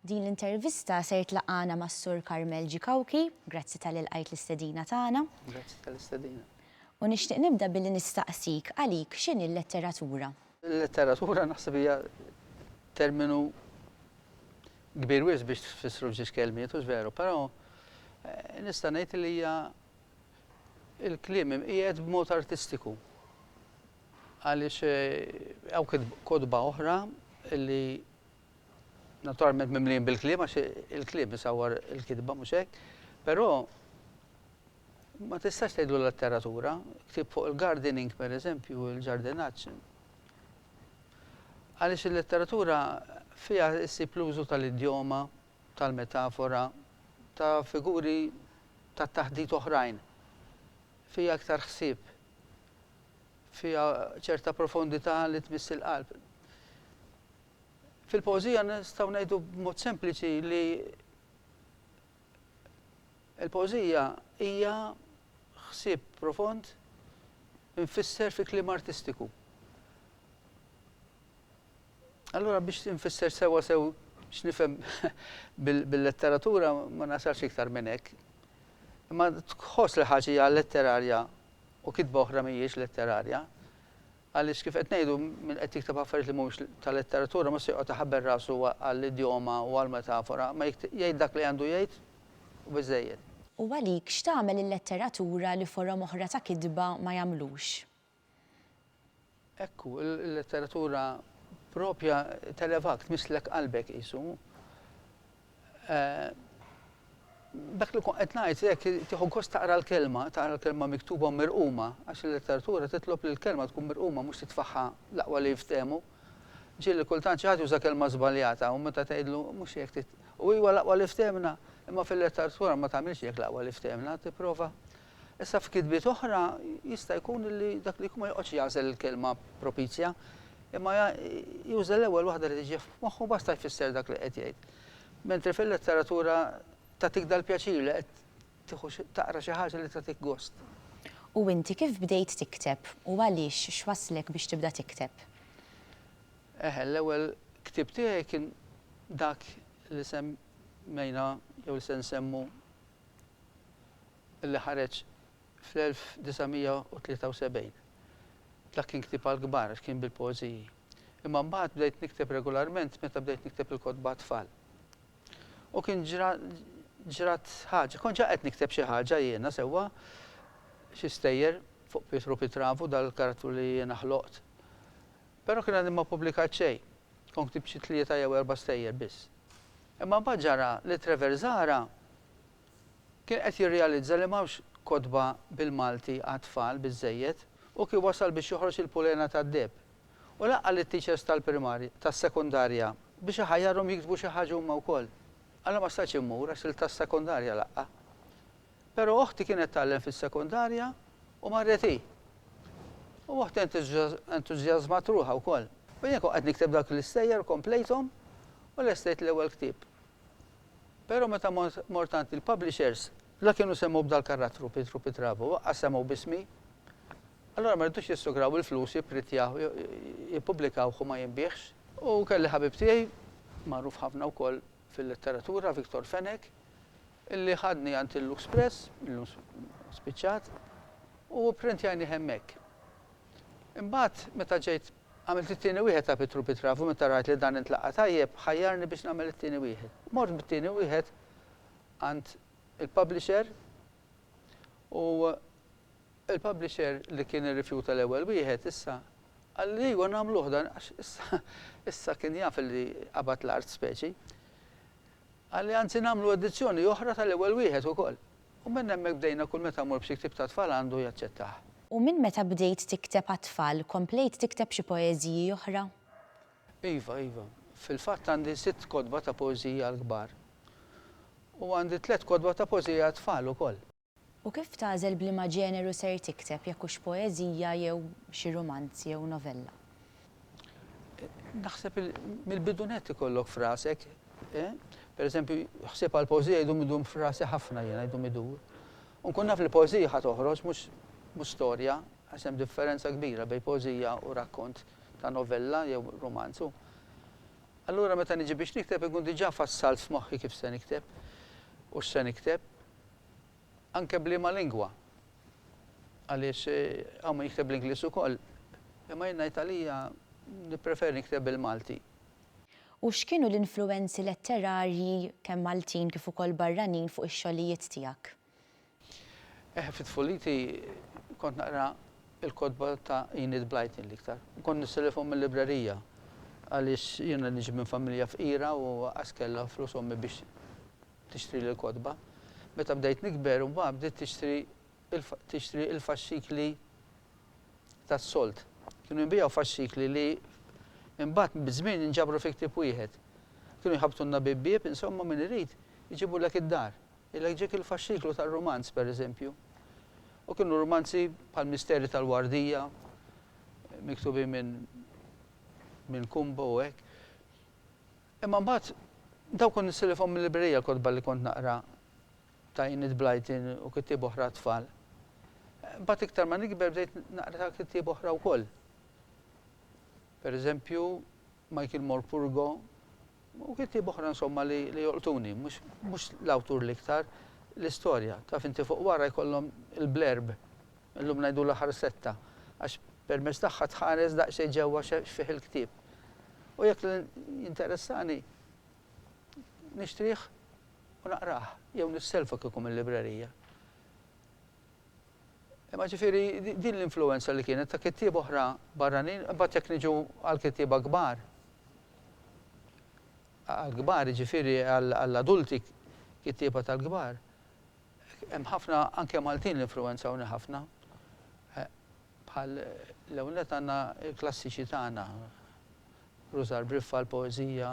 Din l-intervista ser tlaqana mas Sur Carmel G. Cauchi, grazzi tal ilqajt l-istedina tagħna. Grazzi tal-istedina. U nixtieq nibda billi nistaqsik għalik x'inhi l-letteratura? Il-letteratura naħseb hija terminu kbir wisq biex tfissru f'żewġ kelmiet, hux veru, però eh, nista' ngħid li hija il-kliem imqiegħed b'mod artistiku. Għaliex hawn kotba oħra li naturalment mimlijin bil-kliem għax il-kliem isawwar il-kitba mhux hekk, però ma tistax tgħidlu letteratura, ktieb fuq il-gardening pereżempju, il-ġardinaġġ. Għaliex il-letteratura fiha ssib l-użu tal-idjoma, tal-metafora, ta' figuri tat-taħdit oħrajn. Fiha iktar ħsieb. fiha ċerta profondità li tmiss il-qalb. Fil-pożija nistgħu ngħidu b'mod sempliċi li l-pożija hija ħsieb profond infisser fi kliem artistiku. Allura biex infisser sewwa sew x'nifhem bil-letteratura ma nasalx iktar minn hekk. Imma tħoss li ħaġa hija letterarja u kitba oħra mhijiex letterarja, għaliex kif qed ngħidu min qed jikteb affarijiet li mhumiex ta' letteratura mhux se joqgħod iħabbel rasu għall-idjoma u għall-metafora, ma jgħid dak li għandu jgħid u biżżejjed. U għalik x'tagħmel il-letteratura li forom oħra ta' kitba ma jagħmlux? Hekk hu, il-letteratura proprja televak, tmisslek qalbek qisu. Dak li kont qed ngħid hekk tieħu gost taqra l-kelma, taqra l-kelma miktuba u mirquma, għax il-letteratura titlob li l-kelma tkun mirquma mhux titfagħha l-aqwa li jiftehmu. Ġieli kultant xi ħadd juża kelma żbaljata u meta tgħidlu mhux hekk trid u iva l-aqwa li ftehmna, imma fil-letteratura ma tagħmilx hekk l-aqwa li ftehmna, tipprova Issa f'kitbiet oħra jista' jkun li dak li jkun ma joqgħodx jagħżel il-kelma propizja, imma juża l-ewwel waħda li tiġi f'moħħu u basta jfisser dak li qed jgħid. Mentri fil-letteratura tagħtik dal-pjaċir li qed tieħu taqra xi ħaġa li tagħtik gost. U inti kif bdejt tikteb u għaliex x'wasslek biex tibda tikteb? Eħe, l-ewwel ktieb tiegħi kien dak li semmejna jew li se nsemmu li ħareġ fl-1973. Dak kien ktieb għall-kbar għax kien bil-poeżiji. Imma mbagħad bdejt nikteb regolarment meta bdejt nikteb il-kotba għat-tfal. U kien ġra ġrat ħaġa. Kont ġa qed nikteb xi ħaġa jiena sewwa, xi stejjer fuq Pietru Pitravu, dal-karattru li jiena ħloqt. Però kien għadni ma ppublikat xejn. Kont ktibt xi tlieta jew erba' stejjer biss. Imma mbagħad ġara li Trevor Zahra Kien qed jirrealizza li m'hawnx kotba bil-Malti għat-tfal biżżejjed u kien wasal biex joħroġ il-pulena tad-deheb. U laqqa' lit-teachers tal-primarja, tas-sekondarja biex iħajjarhom jiktbu xi ħaġa huma wkoll. Alla ma stajtx immur għax il-tas-sekondarja laqqa'. Però oħti kienet tgħallem fis-sekondarja u marret hi. U oħti entużjażmat ruħha wkoll. U jien kont qed nikteb dawk l-istejjer komplejthom u lestejt l-ewwel ktieb. Pero meta mort għand il-publishers, la kienu semgħu b'dal-karattru, Pietru Pitravu, waqqas semgħu b'ismi. Allura ma ridux jissugraw il-flus, jipprittjah, jippubblikawh u ma jinbiegħx. U kelli ħabib tiegħi, magħruf ħafna wkoll fil-letteratura, Victor Fenech, illi ħadni għand il-Lux Press, illum spiċċat, u pprintjajnih hemmhekk. Imbagħad meta ġejt Għamilt it-tieni wieħed ta' Pietru Pitraf u meta rajt li dan intlaqa' tajjeb, ħajjarni biex nagħmel it-tieni wieħed. Mort bit-tieni wieħed għand il-publisher u l-publisher li kien irrifjuta l-ewwel wieħed issa qalli ejwa nagħmluh dan għax issa issa kien jaf illi qabad l-art speċi. Qalli anzi nagħmlu edizzjoni oħra tal-ewwel wieħed ukoll. U minn hemmhekk bdejna kull meta mmur b'xi ktieb ta' tfal għandu jaċċettah. U minn meta bdejt tikteb għat-tfal komplejt tikteb xi poeżiji oħra? Iva, iva. Fil-fatt għandi sitt kotba ta' poeżiji għall-kbar. U għandi tliet kotba ta' poeżiji għat-tfal ukoll. U kif tagħżel b'liema ġeneru ser tikteb, jekk hux poeżija jew xi rumanz jew novella? Naħseb mill-bidu nett ikollok f'rasek, per eżempju, ħsieb għal pożija jdum idum f'rasi ħafna jiena jdum idur. U nkun naf li pożija ħa toħroġ mhux mhux storja, għax hemm differenza kbira bejn pożija u rakkont ta' novella jew rumanzu. Allura meta niġi biex nikteb inkun diġà fassalt f'moħħi kif se nikteb u x'se nikteb. Anke b'liema lingwa. Għaliex hawn min jikteb bl-Ingliż ukoll. Imma jien ngħid għalija nippreferi nikteb bil-Malti. U x'kienu l-influwenzi letterarji kemm Maltin kif ukoll barranin fuq ix-xogħlijiet tiegħek? Eh, fi tfuliti kont naqra l-kotba ta' Enid Blyton l-iktar. U kont nistilifhom mil-librerija. Għaliex jiena niġi minn familja fqira u għas kellha flus ommi biex tixtrili l-kotba. Meta bdejt nikber imbagħad bdiet tixtri tixtri l-faxxikli tas-solt. Kienu jinbiegħu faxxikli li imbagħad biż-żmien inġabru fi ktieb wieħed. Kienu jħabbtulna bieb bieb, insomma min irid iġibulek id-dar. Jgħidlek ġiek il-faxxiklu tar-rumanz, pereżempju. U kienu rumanzi bħall-Misteri tal-Wardija, miktubin minn minn Kumbo u hekk. Imma mbagħad dawn kont nissilifhom mil-librerija l-kotba li kont naqra ta' Enid Blyton u kittieb oħra għat-tfal. Mbagħad iktar ma nikber bdejt naqra ta' kittieb oħra wkoll. Pereżempju, Michael Morpurgo u kittieb oħra insomma li jolqtuni, mhux l-awtur l-iktar, l-istorja. Taf inti fuq wara jkollhom il-blerb Illum ngħidulha ħarsetta, għax permezz tagħha tħares daqsxejn ġewwa x'fih il-ktieb. U jekk jinteressani, nixtrih u naqrah, jew nisselfu kieku mil-librerija. Imma ġifieri din l-influwenza li kienet ta' kittieba oħra barranin, imbagħad jekk niġu għall-kittieba kbar, għall-kbar jiġifieri għall-adulti, kittieba tal-kbar, Hemm ħafna anke Maltin li influwenzawni ħafna. Bħal l-ewwel nett għandna l-klassiċi tagħna, Rużar Briffa, l-poeżija,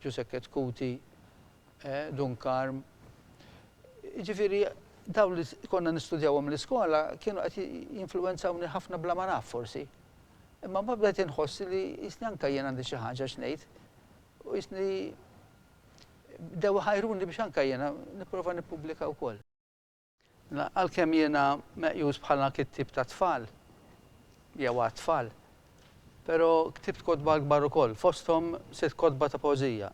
Ġusekket Cuti, Dun Karm. Jiġifieri dawn li konna nistudjawhom l-iskola kienu qed jinfluwenzawni ħafna bla ma naf forsi. Imma mbagħad bdejt inħoss li qisni anke jien għandi xi ħaġa x'ngħid u qisni bdew iħajruni biex anke jiena nipprova nippubblika wkoll. Għalkemm jiena meqjus bħala kittieb tat-tfal, jew għat-tfal, però ktibt kotba kbar ukoll, fosthom sitt kotba ta' poeżija.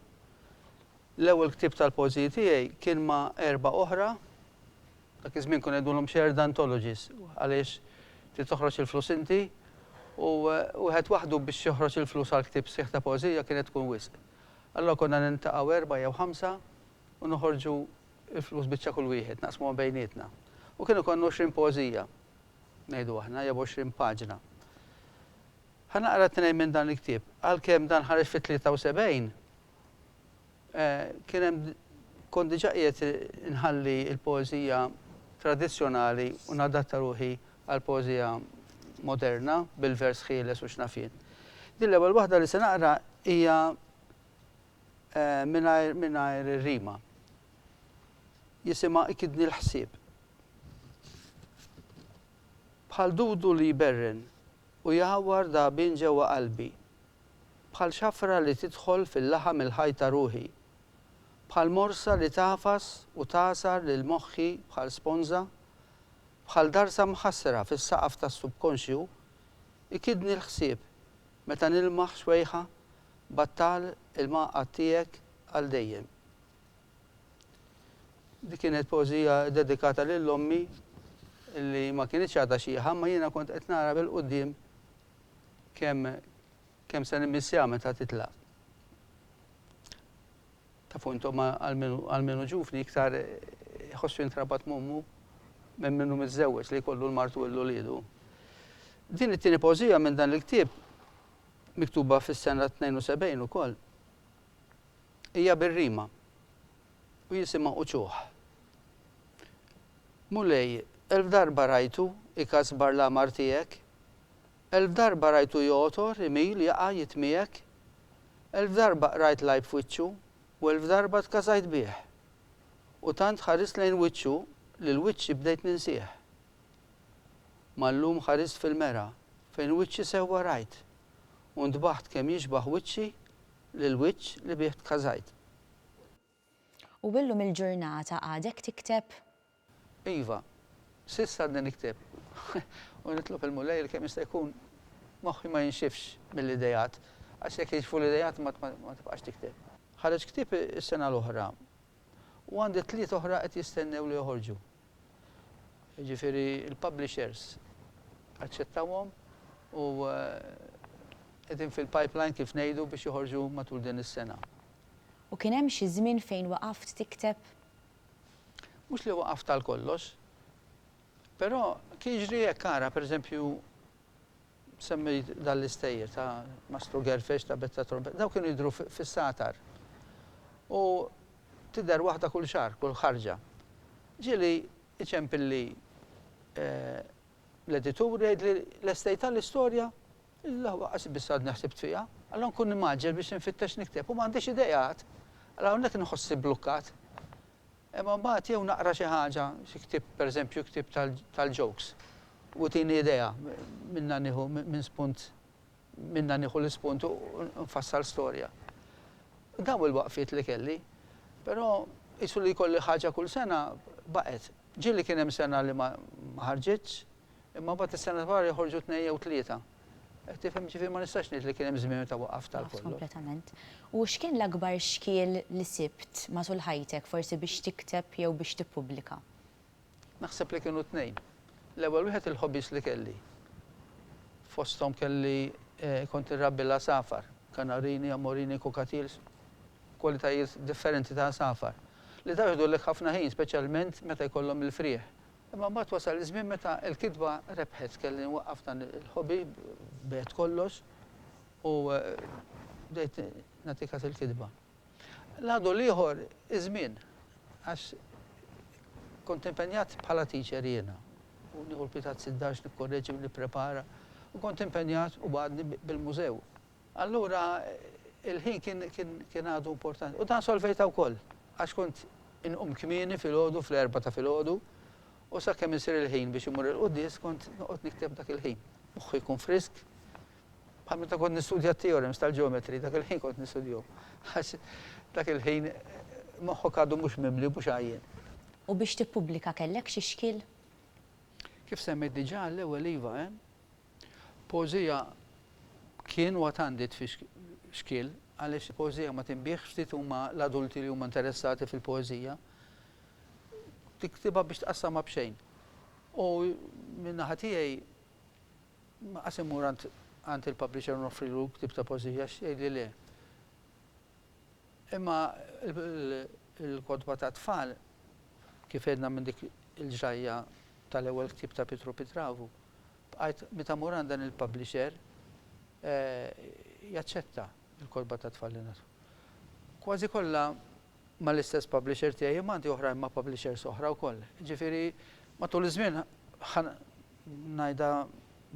L-ewwel ktieb tal-poeżiji tiegħi kien ma' erbgħa oħra, dak iż-żmien kunu ngħidulhom shared anthologies, għaliex trid toħroġ il-flus inti u wieħed waħdu biex joħroġ il-flus għal ktieb sħiħ ta' poeżija kienet tkun wisq. Allura konna niltaqgħu erbgħa jew ħamsa u noħorġu l-flus biċċa kull wieħed, naqsmuhom bejnietna. U kien ikollna għoxrin poeżija, ngħidu aħna, jew għoxrin paġna. Ħa naqra tnejn minn dan il-ktieb. Għalkemm dan ħareġ fit-73, kien hemm kont diġà qiegħed inħalli l-poeżija tradizzjonali u nadatta ruħi għall-poeżija moderna, bil-vers ħieles u x'naf jien. Din l-ewwel waħda li se naqra hija mingħajr mingħajr ir-rima. Jisimha Ikidni l-ħsieb. Bħal dudu li jberren u jgħawwar dagħbien ġewwa qalbi. Bħal xafra li tidħol fil-laħam il-ħaj ta' ruħi. Bħal morsa li tagħfas u tagħsar lil moħħi bħal sponża. bħal darsa mħassra fis-saqaf tas-subkonxju, ikiddni l-ħsieb meta nilmaħ xwejħa battal il-mgħaqqad tiegħek għal dejjem. Dik kienet poeżija ddedikata lil ommi li ma kinitx għadha xieħa imma jiena kont qed nara bil-quddiem kemm kemm se nimmissjaha meta titlaq. Ta' punt, imma għal min hu ġuvni iktar iħossu jintrabat m'ommu minn min hu miżżewweġ li jkollu l-martu u l-uliedu. Din it-tieni pożija minn dan il-ktieb, miktuba fis-sena 72 ukoll, hija bir-rima u jisimha Uċuħ. Mulej, elf darba rajtu ikasbar l-għamar tiegħek, Elf darba rajtu jgħotor, imil, jaqa', jitmiegħek. Elf darba qrajt l-għajb f'wiċċu, u elf darba tkasajt bih. U tant ħarist lejn wiċċu li l-wiċċi bdejt ninsih. Ma llum ħarist fil-mera fejn wiċċi sewwa rajt, u ntbaħt kemm jixbah wiċċi lill-wiċċ li bih tkasajt. U illum il-ġurnata għadek tikteb? Iva, s'issa għadni nikteb. U nitlob il-Mulej li kemm jista' jkun moħħi ma jinxifx mill-ideat, għax jekk jinxfu l-ideat ma tibqax tikteb. Ħareġ ktieb is-sena l-oħra u għandi tliet oħra qed jistennew li joħorġu. Jiġifieri l-publishers aċċettawhom u qegħdin fil-pipeline kif ngħidu biex joħorġu matul din is-sena. U kien hemm xi żmien fejn waqaft tikteb? Mhux li waqaft għal kollox. Però kien jiġri hekk, ara, per eżempju, semmejt dan l-istejjer ta' Mastru Gerfex, ta' Betta Trombetta, dawk kienu jidhru fis-Satar. U tidher waħda kull xahar, kull ħarġa. Ġieli jċempilli l-editur u jgħidli lestejtha l-istorja? Illaw waqqas biss għadni ħsibt fiha. Alla nkun nimgħaġġel biex infittex nikteb u m'għandix ideat. Alla hawnhekk inħossni bblukkat. Imma mbagħad jew naqra xi ħaġa, xi ktieb, pereżempju ktieb tal-jokes u tini idea, minnha nieħu minn spunt, minnha nieħu l-ispunt u nfassal storja. Dawn il-waqfiet li kelli. Però qisu li jkolli ħaġa kull sena, baqgħet. Ġieli kien hemm sena li ma ħarġitx, Imma mbagħad is-sena wara joħorġu tnejn jew tlieta. Qed tifhem? Jiġifieri ma nistax ngħid li kien hemm żmien meta waqaft għal kollox. Waqaft kompletament. U x'kien l-akbar xkiel li sibt matul ħajtek forsi biex tikteb jew biex tippubblika? Naħseb li kienu tnejn. L-ewwel wieħed il-hobbies li kelli. Fosthom kelli kont irrabbi l-għasafar, kanarini, amorini, cockatiels, kwalitajiet differenti ta' għasafar, li dawn jieħdulek ħafna ħin speċjalment meta jkollhom il-frieħ Imma mbagħad wasal iż-żmien meta l-kitba rebħet, kelli nwaqqaf dan il-hobby, bigħet kollox u bdejt nagħti kas il-kitba. L-għadu l-ieħor iż-żmien għax kont impenjat bħala teacher jiena u nieħu l-kwitat sid-dar x'nikkorreġi u nipprepara u kont impenjat u għadni bil-mużew. Allura il-ħin kien għadu importanti. U dan solvejtha wkoll, għax kont inqum kmieni filgħodu fl-erbgħa ta' filgħodu u sakemm isir il-ħin biex immur il-quddies kont noqgħod nikteb dak il-ħin. Moħħi jkun frisk. Bħal meta kont nistudja t-theorems tal-geometry, dak il-ħin kont nistudjahom. Għax dak il-ħin moħħok għadu mhux mimli u mhux għajjien. U biex tippubblika kellek xi xkiel? Kif semmejt diġà, l-ewwel iva, Poeżija Kien u għad għandi tfix xkiel għaliex il-poeżija ma tinbiegħx ftit huma l-adulti li huma interessati fil-poeżija. Tiktibha biex tqassamha b'xejn. U min-naħa tiegħi ma qas immur għand għand il-publisher noffrilu ktib ta' poeżija x'jgħidli le. Imma il-kotba ta' tfal kif għedna minn dik il-ġrajja tal-ewwel ktib ta' Pietru Pitravu, Bqajt meta mur għand dan il-publisher jaċċetta l-kotba tat-tfal li ngħatu. Kważi kollha mal-istess publisher tiegħi imma għandi oħrajn ma' publishers oħra wkoll. Jiġifieri matul iż-żmien ngħidha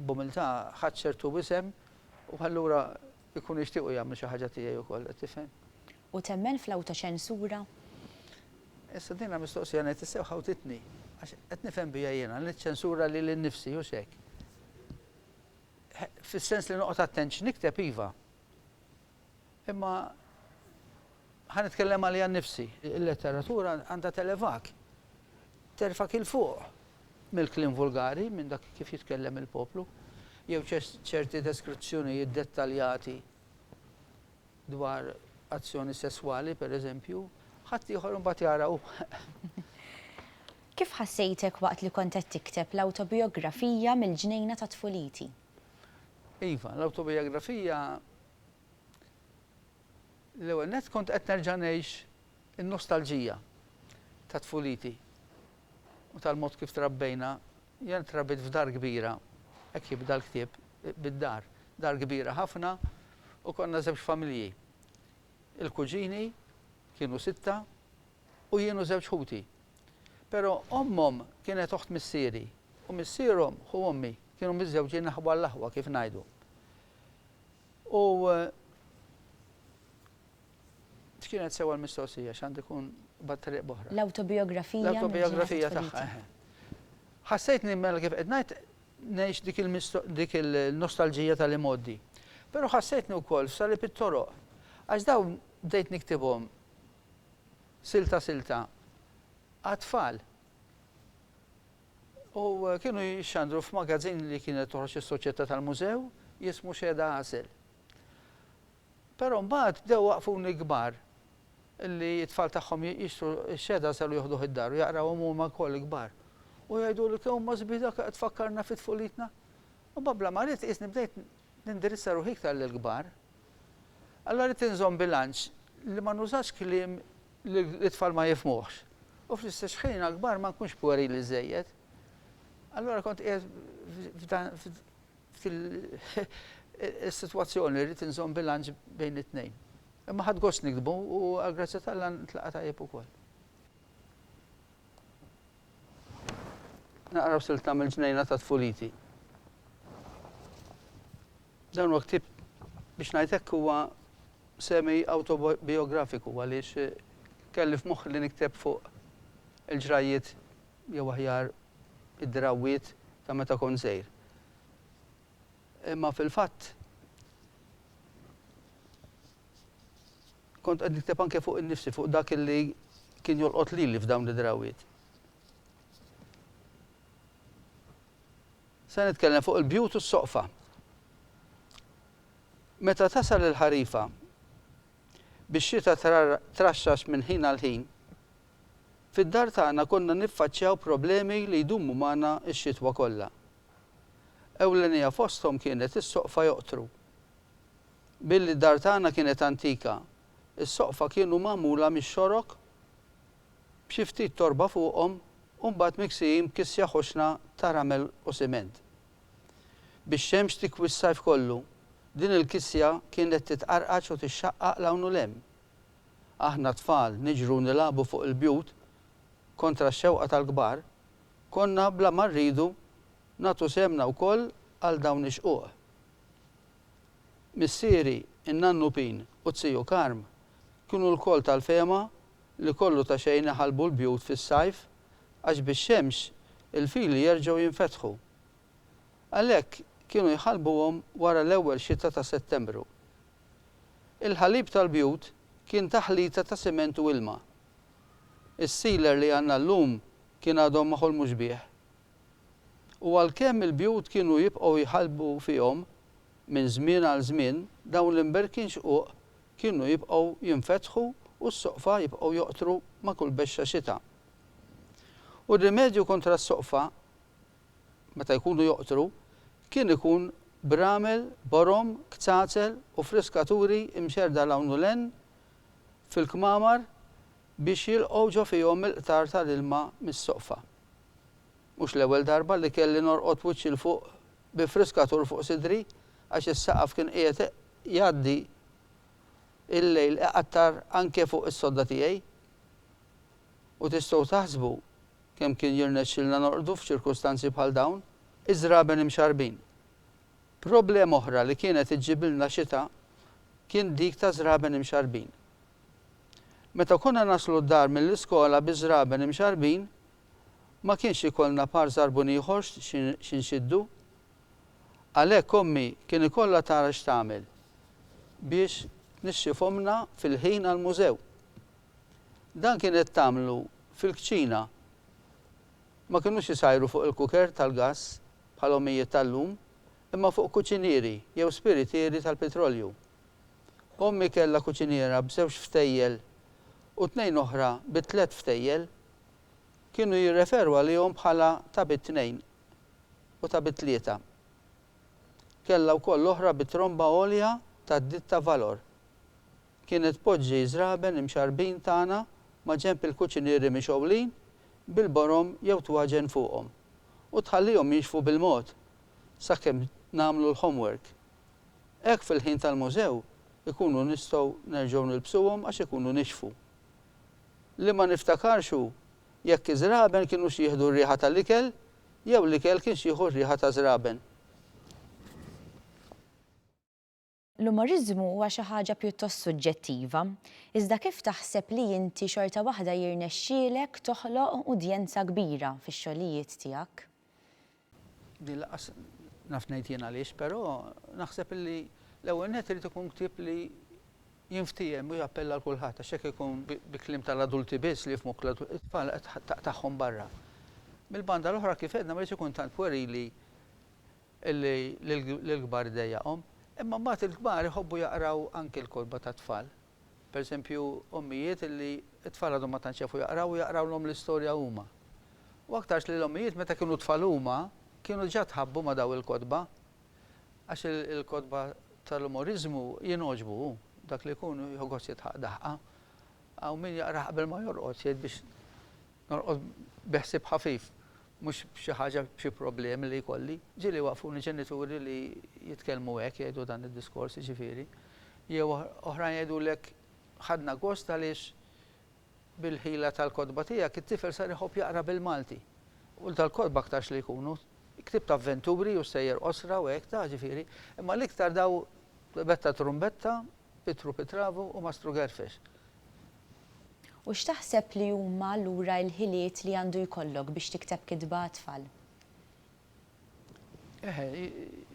b'umiltà ħadt ċertu isem u allura jkunu jixtiequ jagħmlu xi ħaġa tiegħi wkoll, qed tifhem? U temmen fl-awtoċensura? Issa din mistoqsija ngħid tassew ħawtitni, għax qed nifhem biha jiena li niċċensura lili nnifsi, hux hekk? Fis-sens li noqgħod attent x'nikteb iva. Imma ħa nitkellem għaliha nnifsi. Il-letteratura għandha televak, terfak 'il fuq mill-kliem vulgari, minn dak kif jitkellem il-poplu, jew ċerti deskrizzjonijiet dettaljati dwar azzjoni sesswali, per eżempju, ħadd ieħor imbagħad jara u Kif ħassejtek waqt li kont qed tikteb l-awtobijografija mill-ġnejna ta' tfuliti? Iva, l-awtobijografija L-ewwel nett kont qed nerġa' ngħix in-nostalġija ta' tfuliti u tal-mod kif trabbejna Jien trabitt f'dar kbira, hekk jibda l-ktieb, bid-dar. Dar kbira ħafna u konna żewġ familji. Il-kuġini kienu sitta u jien u żewġ ħuti. Però ommhom kienet oħt missieri u missierhom ħu ommi, kienu miżżewġin aħwa għall-aħwa kif ngħidu. U. X'kienet sewwa l-mistoqsija? X'għandu jkun b'tariq b'oħra? L-awtobijografija mill-ġimgħa ta' tfuliti. L-awtobijografija tagħha, eħe. Ħassejtni mela kif qed ngħid ngħix dik il-misto dik il-nostalġija tal-imgħoddi. Però ħassejtni wkoll f'salib it-toroq. Għax dawn bdejt niktibhom silta silta għat-tfal. U kienu jixxandru f'magazzin li kienet toħroġ is-Soċjetà tal-Mużew jismu Xehda Għasel. Però mbagħad bdew waqfuni kbar li t-tfal tagħhom jixtru x-xehda selu joħduh id-dar u jaqrawhom huma wkoll kbar. U jgħiduli kemm huma sbieħ dawk li qed tfakkarna fi tfulitna. Imbagħad bla ma ridt qisni bdejt nindirizza ruħi iktar lill-kbar. Allura ridt inżomm bilanċ li ma nużax kliem li t-tfal ma jifhmuhx u fl-istess ħin għall-kbar ma nkunx pwerili żżejjed. Allura kont qiegħed F'din is-sitwazzjoni rrid inżomm bilanċ bejn it-tnejn. Imma ħadt gost niktbu u għall-grazzja t'Alla ntlaqa' tajjeb ukoll. Naqra silta mill-ġnejna ta' tfuliti. Dan huwa ktieb, biex ngħid hekk, huwa semi awtobijografiku għaliex kelli f'moħħi li nikteb fuq il-ġrajjiet jew aħjar id-drawwiet ta' meta kont sejr. Imma fil-fatt kont qed nikteb anke fuq innifsi, fuq dak li kien jolqot lili f'dawn id-drawwiet. Se nitkellem fuq il-bjut u s-soqfa. Meta tasal il-ħarifa, bix-xita traxxax minn ħin għal ħin, Fid-dar tagħna konna niffaċċjaw problemi li jdumu magħna x-xitwa kollha. Ewlenija fosthom kienet is-soqfa joqtru. Billi d-dar tagħna kienet antika, is-soqfa kienu magħmula mix-xorok b'xi ftit torba fuqhom u mbagħad miksijin b'kissja ħoxna ta' ramel u siment. Bix-xemx tikwi s-sajf kollu, din il-kissja kienet titqarqaċ u tixxaqqaq 'l hawn u 'l hemm. aħna t-tfal niġru u nilagħbu fuq il-bjut kontra x-xewqa tal-kbar, konna bla ma rridu nagħtu sehemna wkoll għal dawn ix-xquq. Missieri, in-nannu Pin u t-tiju Karm kienu lkoll tal-fehma li kollu ta' xejn iħallbu l-bjut fis-sajf għax bix-xemx il-fili jerġgħu jinfetħu. Għalhekk kienu jħallbuhom wara l-ewwel xita ta' Settembru. Il-ħalib tal-bjut kien taħlita ta' siment u ilma. Is-sealer li għandna llum kien għadhom ma ħolmux bih. U għalkemm il-bjut kienu jibqgħu jħallbu fihom minn żmien għal żmien, dawn l-imberkin xquq kienu jibqgħu jinfetħu u s-soqfa jibqgħu joqtru ma' kull bexxa xita. U r-rimedju kontra s-soqfa meta jkunu joqtru, kien ikun b'ramel, borom, kzazel u friskaturi mxerrda 'l hawn u 'l hemm fil-kmamar biex jilqgħu ġo fihom il-qtar ta' l-ilma mis-soqfa. Mhux l-ewwel darba li kelli norqod wiċċi 'l fuq bi friskatur fuq sidri għax is-saqaf kien qiegħed jgħaddi l-lejl iqattar anke fuq is-sodda tiegħi. U tistgħu taħsbu Kemm kien jirnexxilna norqdu f'ċirkustanzi bħal dawn? Iż-żraben imxarrbin. Problema oħra li kienet iġġibilna xita kien dik ta' żraben imxarrbin. Meta konna naslu d-dar mill-iskola bi żraben imxarrbin, ma kienx ikollna par żarbun ieħor xi nxiddu. Għalhekk ommi kien ikollha tara x'tagħmel biex tnixxifhomlna fil-ħin għall-mużew. Dan kienet tagħmlu fil-kċina. Ma kinux isajru fuq il-kuker tal-gass bħal ommijiet tal-lum, imma fuq kuċinieri jew spiritieri tal-pitrolju. Ommi kellha kuċiniera b'żewġ ftejjel u tnejn oħra bi tliet ftejjel. Kienu jirreferu għalihom bħala ta' bi tnejn u ta' bi tlieta. Kellha wkoll oħra bi tromba għolja tad-ditta Valor. Kienet tpoġġi ż-żraben imxarrbin tagħna maġenb il-kuċinieri mixgħulin bil-borom jew twaġen fuqhom u tħallihom jinxfu bil-mod sakemm nagħmlu l-homework. Hekk fil-ħin tal-mużew ikunu nistgħu nerġgħu nilbsuhom għax ikunu nixfu. Li ma niftakarx hu jekk iż-żraben kinux jieħdu r-riħa tal-ikel jew l-ikel kienx jieħu r-riħa taż-żraben. L-umoriżmu huwa xi ħaġa pjuttost suġġettiva, iżda kif taħseb li inti xorta waħda jirnexxielek toħloq udjenza kbira fix-xogħlijiet tiegħek? Din lanqas naf ngħid jien għaliex, però naħseb illi l-ewwel nett irid ikun ktieb li jinftiehem u jappella għal kulħadd għax jekk ikun bi kliem tal-adulti biss li jifhmu t-tfal qed taqtagħhom barra. Mill-banda l-oħra kif għedna ma jridx ikun tant pwerili Illi lill-kbar dejjaqhom. Imma mbagħad il-kbar iħobbu jaqraw anki l-kotba tat-tfal. Per eżempju, ommijiet illi t-tfal għadhom ma tantx jafu jaqraw u jaqrawlhom l-istorja huma. U aktarx li l-ommijiet meta kienu tfal huma kienu diġà tħabbu ma' dawn il-kotba. Għax il-kotba tal-umoriżmu jingħoġbu, hu dak li jkun iħu gost jidħaq daħqa. Hawn min jaqrah qabel ma jorqod, jgħid biex Norqod bi ħsieb ħafif, mhux b'xi ħaġa, b'xi problemi li jkolli. Ġieli waqqfuni ġenituri li jitkellmu hekk, jgħidu dan id-diskors, jiġifieri. Jew oħrajn jgħidulek, Ħadna gost għaliex bil-ħila tal-kotba tiegħek it-tifel sar iħobb jaqra bil-Malti. U dal-kotba aktarx li jkunu ktieb ta' avventuri u sejjer qosra u hekk, taf, ġifieri. Imma l-iktar daw betta trumbetta Pitru Pitravu u Mastru Gerfex. U x'taħseb li huma allura l-ħiliet li għandu jkollok biex tikteb kitba għat-tfal? Eħe,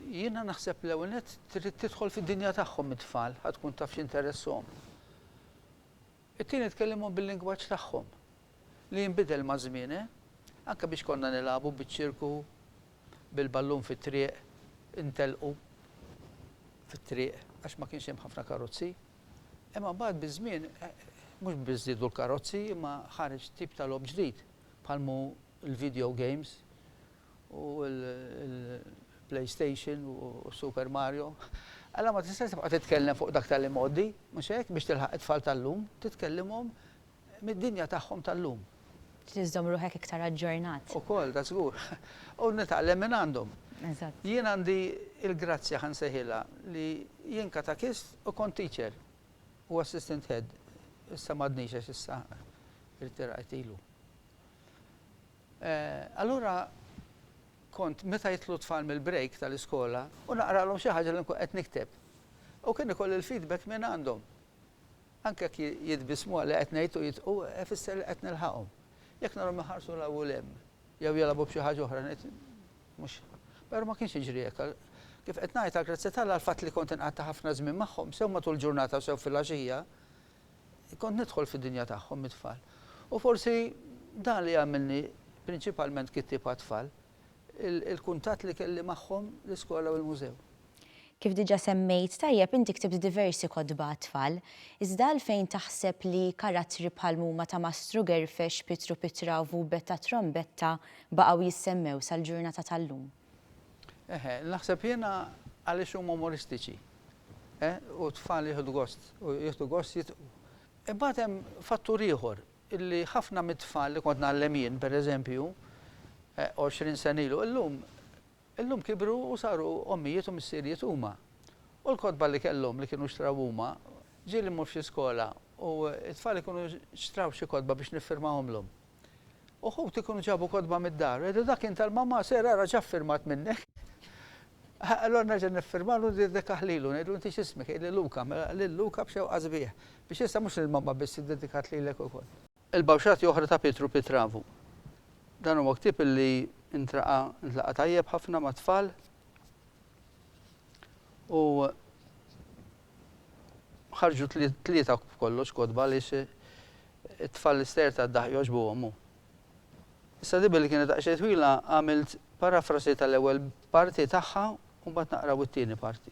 jiena naħseb l-ewwel nett trid tidħol fid-dinja tagħhom it-tfal, ħa tkun taf x'interesshom. It-tieni tkellimhom bil-lingwaġġ tagħhom, li jinbidel maż-żmien, eh? Anke biex konna nilagħbu biċ-ċirku bil-ballun fit-triq, intelqu fit-triq għax ma kienx hemm ħafna karozzi. Imma mbagħad biż-żmien mhux biss żdiedu l-karozzi imma ħareġ tip ta' logħob ġdid bħal m'hu l-video games u l-PlayStation u s-Super Mario. Allura ma tistax tibqa' titkellem fuq dak tal-imgħoddi, mhux hekk, biex tilħaq it-tfal tal-lum, titkellimhom mid-dinja tagħhom tal-lum. Trid iżżomm ruħek iktar aġġornat. Ukoll, da żgur. U nitgħallem minn għandhom. Eżatt. Jien għandi l-grazzja, ħa nsejħilha, li jien katakist u kont teacher u assistant head. Issa m'għadnix għax issa irtirajt ilu. Allura kont meta jidħlu t-tfal mill-break tal-iskola u naqralhom xi ħaġa li nkun qed nikteb. U kien ikolli l-feedback minn għandhom. Anke jekk jitbissmu għal li qed ngħid u jidħku, ifisser li qed nilħaqhom. Jekk narhom iħarsu 'l hawn u 'l hemm, jew jilgħabu b'xi ħaġa oħra, ngħid, Mhux. Però ma kienx jiġri hekk. Kif qed ngħid, għall-grazzja t'Alla, l-fatt li kont inqatta' ħafna żmien magħhom, sew matul il-ġurnata u sew filgħaxija, kont nidħol fid-dinja tagħhom mit-tfal. U forsi dan li għamilni prinċipalment kittieb għat-tfal. il-kuntatt li kelli magħhom l-iskola u l-mużew. Kif diġa semmejt tajjeb inti ktibt diversi kotba għat-tfal. Iżda għalfejn taħseb li karattri bħal mhuma ta' Mastru Gerfex, Pietru Pitravu u Betta Trombetta baqgħu jissemmew sal-ġurnata tal-lum? Eħe, naħseb jiena għaliex huma umoristiċi. U t-tfal jieħdu gost, jieħdu gost jitqu. Imbagħad hemm fattur ieħor illi ħafna mit-tfal li kont ngħallem jien, per eżempju, għoxrin sena ilu, illum, illum kibru u saru ommijiet u missirijiet huma. U l-kotba li kellhom li kienu xtraw huma, ġieli mmur f'xi skola u t-tfal ikunu xtraw xi kotba biex niffirmahomlhom. Uħud ikunu ġabu kotba mid-dar, u jgħidu dak kien tal-mamma, ser ara x'affirmat minnek. Allura nerġa' niffirmalu u niddedikah lilu, ngħidlu inti x'ismek, jgħidli Luka, mela lil Luka b'xewqa sbieħ, biex issa mhux lil Mamma biss iddedikat lilek ukoll. Il-bawxati oħra ta' Pietru Pitravu. Dan huwa ktieb li ntraqa' ntlaqa' tajjeb ħafna mat-tfal u ħarġu tlieta b'kollox kotba għaliex it-tfal l-ister tad-daħq jogħġbuhom u Issa di billi kienet daqsxejn twila għamilt parafrasi tal-ewwel parti tagħha u mbagħad naqraw it-tieni parti.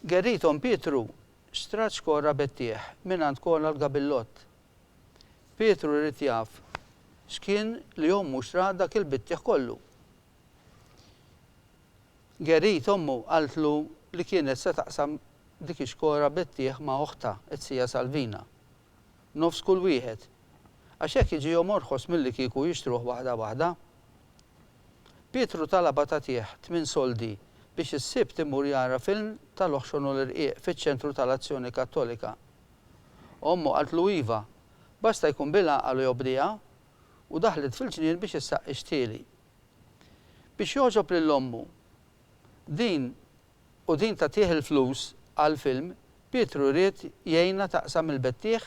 Gerrithom Pietru xtrat xkorra bettieħ mingħand Kola l-gabillott. Pietru ried jaf x'kien li ommu xtrat dak il-bittieħ kollu. Gerrit ommu qaltlu li kienet se taqsam dik ix-xkora bettieħ ma' oħtha, t-sija Salvina, nofs kull wieħed, għax hekk jiġihom orħos millikieku jixtruh waħda waħda. Pietru talabha tagħtih tmien soldi biex is-Sibt imur jara film tal-oħxon u l-irqiq fiċ-Ċentru tal-Azzjoni Kattolika. Ommu qaltlu iva, basta jkun bil-għaqal u jobdiha, u daħlet fil-ġnien biex issaqqi xtieli. Biex jogħġob lil ommu. Din u din tagħtih il-flus għall-film, Pietru ried jgħinha taqsam il-bettiegħ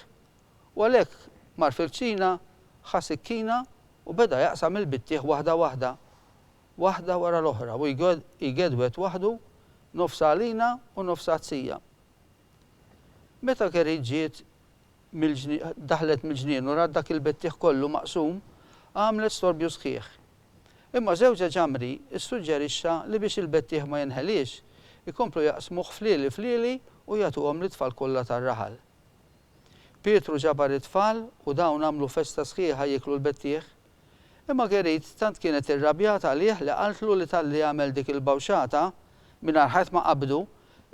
u għalhekk mar fil-kċina ħa sikkina u beda jaqsam il-bittiegħ waħda waħda, waħda wara l-oħra u jgedwed waħdu nofs għalina u nofs għat-sija. Meta Kerry ġiet mill-ġni, daħlet mill-ġnien u rat dak il-bettiħ kollu maqsum, għamlet storbju sħiħ. Imma żewġha Jamri ssuġġerixxa li biex il-bettiħ ma jinħeliex, ikomplu jaqsmuh flieli flieli u jagħtuhom lit-tfal kollha tar-raħal. Pietru ġabar it-tfal u dawn għamlu festa sħiħa jieklu l-bettiħ. Imma Marguerite tant kienet irrabjat għalih li qaltlu li talli għamel dik il-bawxata, mingħajr ħadd ma qabbdu,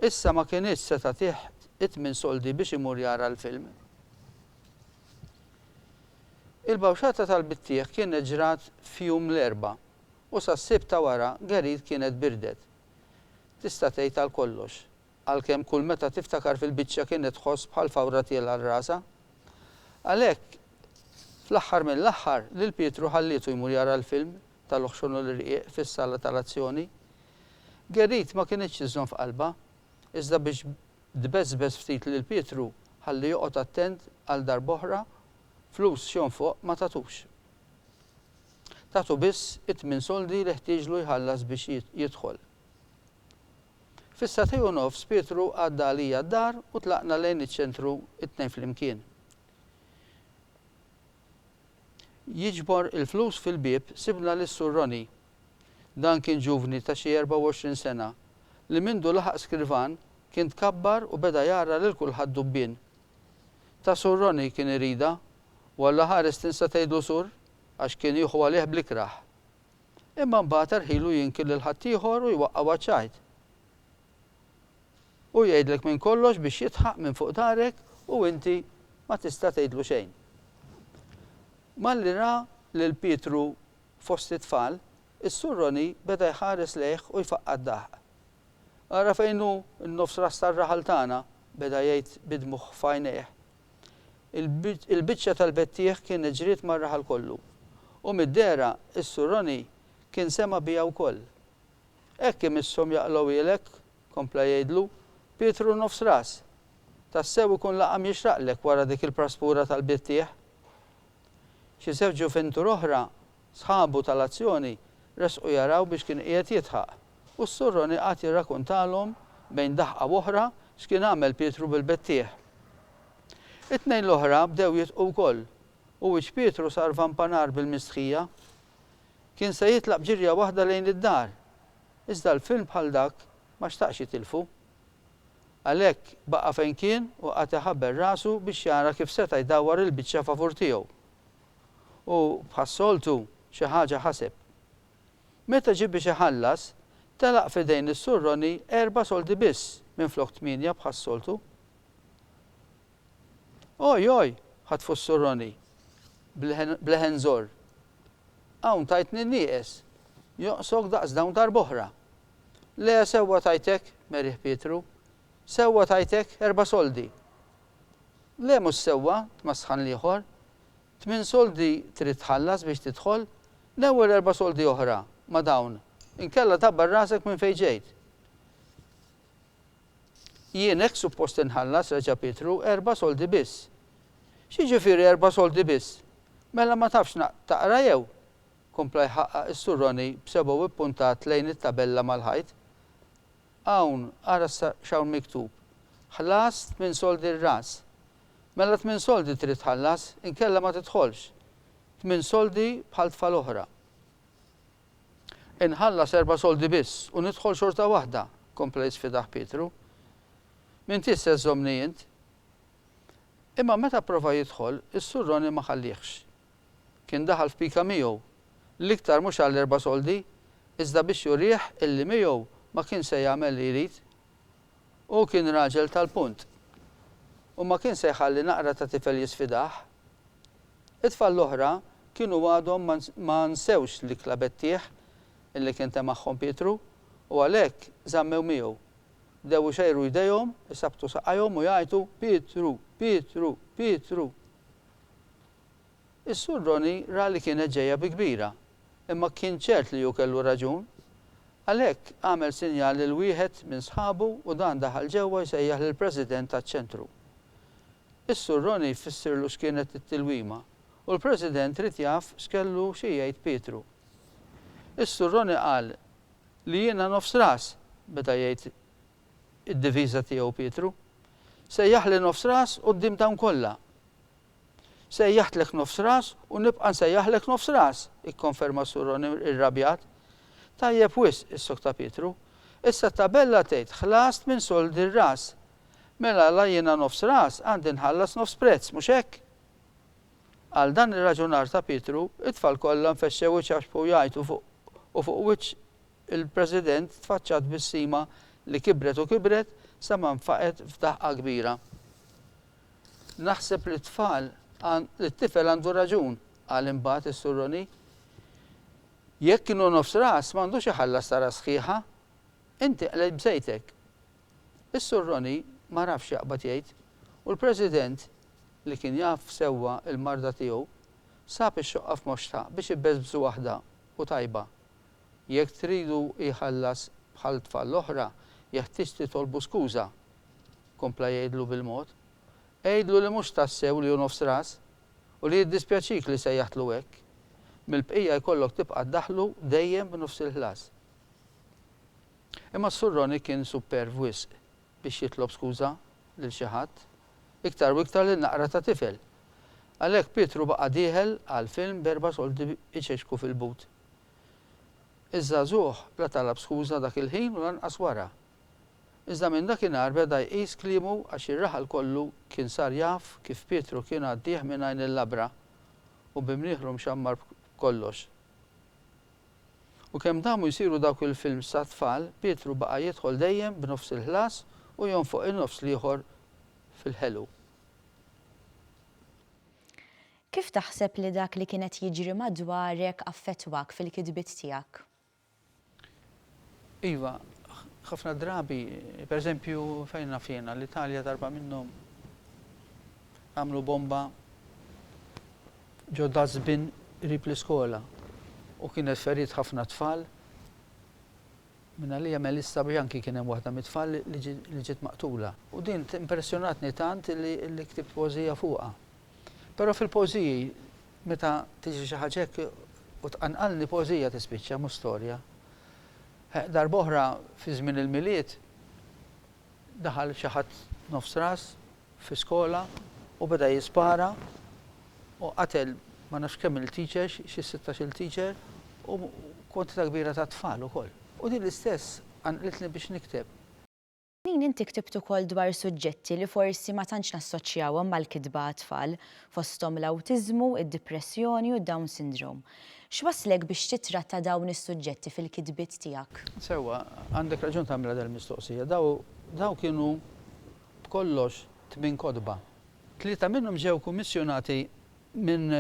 issa ma kinitx se tagħtih it-tmien soldi biex imur jara l-film. Il-bawxata tal-bittiegħ kienet ġrat f'jum l-Erbgħa, u sas-Sibt ta' wara Gerrit kienet birdet, tista' tgħid għal kollox. għalkemm kull meta tiftakar fil-biċċa kienet tħoss bħal fawra tielgħa rasha. Għalhekk, fl-aħħar mill-aħħar, lil Pietru ħallietu jmur jara l-film Tal-Uħxun u l-Irqiq fis-sala tal-azzjoni. Gerrit ma kinitx iżżomm f'qalbha, iżda biex tbeżbeż ftit lil Pietru, ħalli joqgħod attent għal darb'oħra, flus x'hemm fuq ma tatux. Tatu biss it-tmien soldi li ħtieġlu jħallas biex jidħol. Fis-sagħtej u nofs Pietru għadda għalija d-dar u tlaqna lejn iċ-ċentru t-tnejn flimkien. Jiġbor il-flus fil-bieb sibna lis Sur Ronnie. Dan kien ġuvni ta' xi 24 sena li mindu laħaq Skirvan kien tkabbar u beda jgħarra lil kulħadd dubbien. Ta' Sur Ronnie kien iridha u allaħares tinsa tgħidlu Sur għax kien jieħu għalih bl-ikrah. Imma mbagħad erħilu jinkir lil ħaddieħor u jwaqqgħu għaċ-ċajt. Hu jgħidlek minn kollox biex jidħaq minn fuq darek u inti ma tista' tgħidlu xejn. Malli ra lil Pietru fost it-tfal, is-Sur Roni beda jħares lejh u jfaqqa' d-daħq. Ara fejn hu n-nofs ras tar-raħal tagħna, beda jgħid bi dmugħ f'għajnejh, Il-biċċa tal-bettieħ kienet ġriet mar-raħal kollu, u mid-dehra s-Sur Ronnie kien sema' biha wkoll. Hekk imisshom jaqlgħuhielek, kompla jgħidlu, Pietru Nofs Ras! Tassew ikun laqam jixraqlek wara dik il-praspura tal-bettieħ! Xi żewġ ġufintur oħra Sħabu tal-azzjoni resqu jaraw biex kien qiegħed jidħaq, u s-Sur Ronnie qagħad jirrakuntalhom bejn daħqa u oħra x'kien għamel Pietru bil-bettieħ. It-tnejn l-oħra bdew jidħqu wkoll, u wiċċ Pietru sar vampanar bil-mistħija. Kien se jitlaq b'ġirja waħda lejn id-dar, iżda l-film bħal dak ma xtaqx jitilfu. Għalhekk baqa' fejn kien u qagħad iħabbel rasu biex jara kif seta' jdawwar il-biċċa favur tiegħu. u, bħas-soltu, xi ħaġa ħaseb. Meta ġie biex iħallas, telaq f'idejn is-Sur Ronny erba' soldi biss minflok tmienja bħas-soltu. Oj, oj! ħatfu s-Sur Ronny, b'leħen żorr. Hawn tajtni nieqes, joqsok daqs dawn darb'oħra! Le, sewwa tajtek, merih Pietru. Sewwa tajtek erba' soldi. Le mhux sewwa, tmasħan l-ieħor. Tmien soldi trid tħallas biex tidħol, l-ewwel erba' soldi oħra ma' dawn, inkella tgħabbar rasek minn fejn ġejt. Jien hekk suppost inħallas, reġa' Pietru, erba' soldi biss. X'jiġifieri erba' soldi biss? Mela ma tafx taqra jew? kompla jħaqqaq is-Sur Ronnie b'sebgħu ppuntat lejn it-tabella mal-ħajt. Hawn, ara issa x'hawn miktub, Ħlas tmien soldi r-ras. Mela tmien soldi trid tħallas, inkella ma tidħolx. Tmien soldi bħal tfal oħra. Inħallas erba' soldi biss u nidħol xorta waħda, kompla jisfidah Pietru. M'intix se żżommni int? Imma meta pprova jidħol, is-Sur Ronnie ma ħalliehx. Kien daħal f'pika miegħu, l-iktar mhux għall-erba' soldi, iżda biex jurih illi miegħu ma kien se jagħmel li jrid. Hu kien raġel tal-punt. U ma kien se jħalli naqra ta' tifel jisfidah. It-tfal l-oħra kienu għadhom ma nsewx l-ikla b'għettieħ illi kien temagħhom Pietru u għalhekk żammew miegħu. Bdew ixejru jdejhom, isabbtu saqajhom u jgħajtu, Pietru! Pietru! Pietru! Is-Sur Ronnie ra li kienet ġejja bi kbira, imma kien ċert li hu kellu raġun. Għalhekk għamel sinjal lil wieħed minn sħabu u dan daħal ġewwa jsejjaħ lill-President taċ-Ċentru. Is-Sur Ronnie fissirlu x'kienet it-tilwima u l-President ried jaf x'kellu xi jgħid Pietru. Is-Sur Ronnie qal li jiena nofs ras, beda jgħid id-diviża tiegħu Pietru. Sejjaħli nofs ras quddiem dawn kollha. Sejjaħtlek nofs ras u nibqa' nsejjaħlek nofs ras! ikkonferma s-Sur O'Neill irrabjat. Tajjeb wisq, issokta Pietru. Issa t-tabella tgħid ħlast minn sold ir-ras. Mela la jiena nofs ras għandi nħallas nofs prezz, mhux hekk? Għal dan ir-raġunar ta' Pietru, it-tfal kollha nfexxew iċaxxbu jgħajtu fuq u fuq wiċċ il-President tfaċċat tbissima li kibret u kibret sa ma nfaqgħet f'daħqa kbira. Naħseb li t-tfal, li t-tifel għandu raġun, qal imbagħad is-Sur Ronnie. Jekk inhu nofs ras m'għandux iħallas ta' ras sħiħa. Inti qlejt b'sejtek. Is-Sur Ronnie ma rafx x'jaqbad jgħid u l-President, li kien jaf sewwa l-marda tiegħu, sab ix-xoqqa f'moxtha biex ibeżbżu waħda u tajba. Jekk tridu jħallas bħal tfal l-oħra, jeħtieġ titolbu skuża. kompla jgħidlu bil-mod. Għidlu li mhux tassew li hu nofs ras u li jiddispjaċik li sejjaħtlu hekk. Mill-bqija jkollok tibqa' ddaħħlu dejjem b'nofs il-ħlas. Imma s-Sur Ronnie kien superv wisq biex jitlob skuża lil xi ħadd, iktar u iktar lil naqra ta' tifel. Għalhekk Pietru baqa' dieħel għall-film b'erba' soldi iċeċku fil-but. Iż-żagħżugħ la talab skuża dak il-ħin u lanqas wara. Iżda minn dakinhar beda jqis kliemu għax ir-raħal kollu kien sar jaf kif Pietru kien għaddih minn għajn il-labra u bi mnieħru mxammar b'kollox. U kemm damu jsiru dawk il-films għat-tfal, Pietru baqa' jidħol dejjem b'nofs il-ħlas u jonfoq in-nofs l-ieħor fil-ħelu. Kif taħseb li dak li kien qed jiġri madwarek affettwak fil-kitbiet tiegħek? Iva, ħafna drabi, per eżempju, fejn naf jiena, l-Italja darba minnhom għamlu bomba ġo dustbin qrib l-iskola u kienet feriet ħafna tfal. Minn għalija Melissa Bianchi kien hemm waħda mit-tfal li ġiet maqtula. U din impressjonatni tant li ktibt poeżija fuqha. Però fil-poeżiji meta tiġri xi ħaġa hekk u tqanqalni poeżija tispiċċa mhux storja. Darb'oħra fi żmien il-Milied daħal xi ħadd nofs ras fi skola u beda jispara u qatel ma nafx kemm-il teachers, xi sittax-il teacher u kwantità kbira ta' tfal ukoll. U din l-istess qanqlitni biex nikteb. Ħanin inti ktibt ukoll dwar suġġetti li forsi ma tantx nassoċjawhom mal-kitba għat-tfal, fosthom l-awtiżmu, id-dipressjoni u d-Down Syndrome. X'wasslek biex tittratta dawn is-suġġetti fil-kitbiet tiegħek? Sewwa, għandek raġun tagħmilha dal-mistoqsija. Dawn kienu b'kollox tmien kotba. Tlieta minnhom ġew kummissjonati minn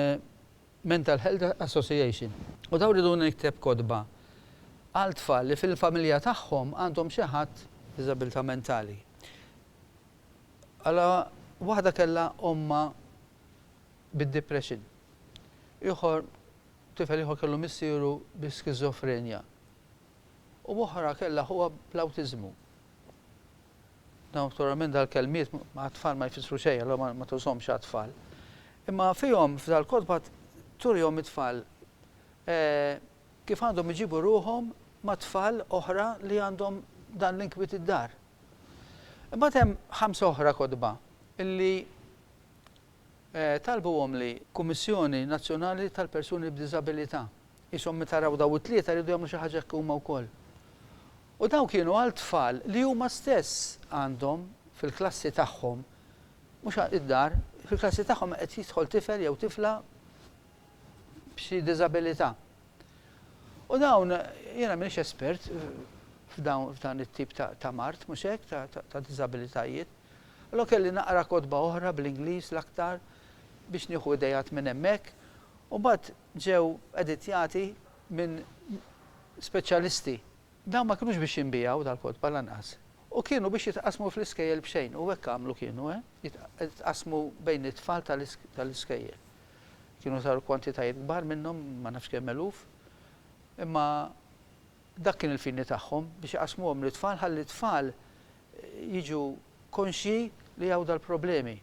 Mental Health Association. U dawn riduni nikteb kotba għal tfal li fil-familja tagħhom għandhom xi ħadd b'diżabilità mentali. Għala waħda kellha ommha bid-depression. Ieħor tifel ieħor kellu missieru bi skiżofrenja. U oħra kellha ħuha bl-awtiżmu. Naturalment dal-kelmiet għat-tfal ma jfissru xejn, allura ma, ma tużhomx għat-tfal. Imma fihom, f'dal-kotba turihom it-tfal eh, kif għandhom iġibu ruħhom ma' tfal oħra li għandhom dan l-inkwiet id-dar. Imbagħad hemm ħamsa oħra kotba illi talbuhom li. Kummissjoni Nazzjonali tal-Persuni b'Diżabilità. Qishom meta raw dawn it-tlieta jridu jagħmlu xi ħaġa hekk huma wkoll. U dawn kienu għal tfal li huma stess għandhom fil-klassi tagħhom, mhux id-dar, fil-klassi tagħhom qed jidħol tifel jew tifla b'xi diżabilità. U dawn, jiena m'iniex espert f'dan it-tip ta' mard, mhux hekk, ta' diżabilitajiet, Allura kelli naqra kotba oħra bl-Ingliż l-aktar biex nieħu ideat minn hemmhekk u mbagħad ġew editjati minn speċjalisti. Dawn ma kinux biex jinbiegħu dal-kotba lanqas u kienu biex jitqassmu fl-iskejjel b'xejn u hekk għamlu kienu eh, jitqassmu bejn it-tfal tal-iskejjel. Kienu saru kwantitajiet kbar minnhom, ma nafx kemm eluf, imma dak kien il-fini tagħhom biex iqassmuhom lit-tfal ħalli t-tfal jiġu konxji li hawn dal-problemi.